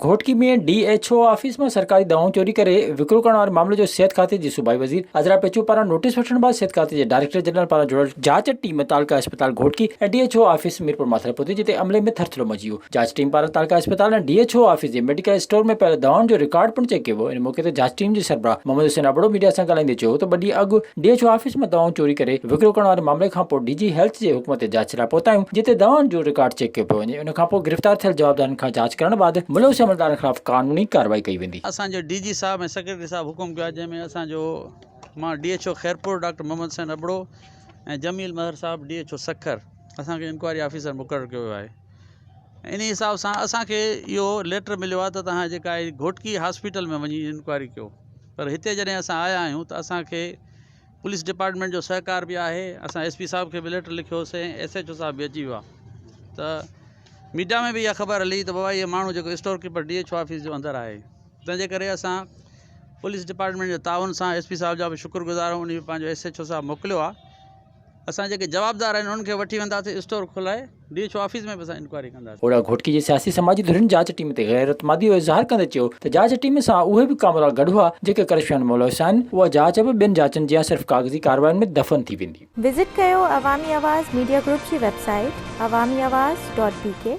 Ghotki ۾ D H O office مان سرڪاري دوائون چوري ڪري وڪرو ڪرڻ واري معاملي جو صحت کاتي جي صوبائي وزير عذرا پيچو پاران نوٽيس وٺڻ بعد صحت کاتي جي ڊائريڪٽر جنرل پاران جڙيل جاچ ٽيم تعلقه اسپتال Ghotki ۽ D H O office ميرپورماٿري پهتي جتي عملي ۾ ٿرٿرو مچي ويو جاچ ٽيم پاران تعلقه اسپتال ۽ ڊي ايڇ او آفيس جي ميڊيڪل اسٽور ۾ پيل دوائن جو رڪارڊ پڻ چيڪ ڪيو ويو ان موقعي تي جاچ ٽيم جي سربراهه محمد حسين ابڙو ميڊيا سان ڳالهائيندي چيو ته ٻه ڏينهن اڳ ڊي ايڇ او آفيس مان دوائون چوري ڪري وڪرو ڪرڻ واري معاملي کانپوء ڊي جي هيلٿ جي حڪم تي جاچ لاء پهتايون جتي دوائن جو رڪارڊ چيڪ ڪيو پيو وڃي ان کانپوء گرفتار ٿيل جوابدارن کان جاچ ڪرڻ بعد ملوث عملدارن خلاف قانوني ڪارروائي ڪئي ويندي. اسان جو ڊي جي صاحب ۽ سيڪريٽري صاحب حڪم ڪيو آهي جنهن ۾ اسان جو مان D H O Khairpur doctor Muhammad Hussain Abro ۽ Jamil Mehar صاحب ڊي ايڇ او سکر اسان کي انڪوائري آفيسر مقرر ڪيو ويو آهي. انهي حساب سان اسان کي اهو ليٽر مليو آهي ته توهان جيڪا اهي گهوٽڪي هاسپيٽل ۾ وڃي انڪوائري ڪيو پر هتي جڏهن اسان آيا آهيون ته اسان کي پوليس ڊپارٽمينٽ جو سهڪار بي آهي اسان ايس پي صاحب کي به ليٽر لکيو سي ايس ايچ او صاحب به اچي ويو آهي ته ميڊيا ۾ به اها خبر هلي ته بابا اهي ماڻهو جيڪو store keeper D H O office جو اندر آهي تنهن جي ڪري اسان پوليس ڊپارٽمينٽ جي تعاون سان ايس پي صاحب جا به شڪر گذار آهيون ان به پنهنجو ايس ايچ او صاحب موڪليو آهي اسان جيڪي جوابدار آهن انهن کي وٺي وينداسين اسٽور کولائي ڊي ايڇ او آفيس ۾ به اسان انڪوائري ڪنداسين. اوڙا گهوٽڪي جي سياسي سماجي ڌرين جاچ ٽيم تي غير اعتمادي جو اظهار ڪندي چيو ته جاچ ٽيم سان اهي به ڪامورا گڏ هئا جيڪي ڪرشيون ملوث آهن، اها جاچ به ٻين جاچن جيان صرف ڪاغذي ڪاررواين ۾ دفن ٿي ويندي. وزٽ ڪيو عوامي آواز ميڊيا گروپ جي website Awami Awaz dot بي ڪي.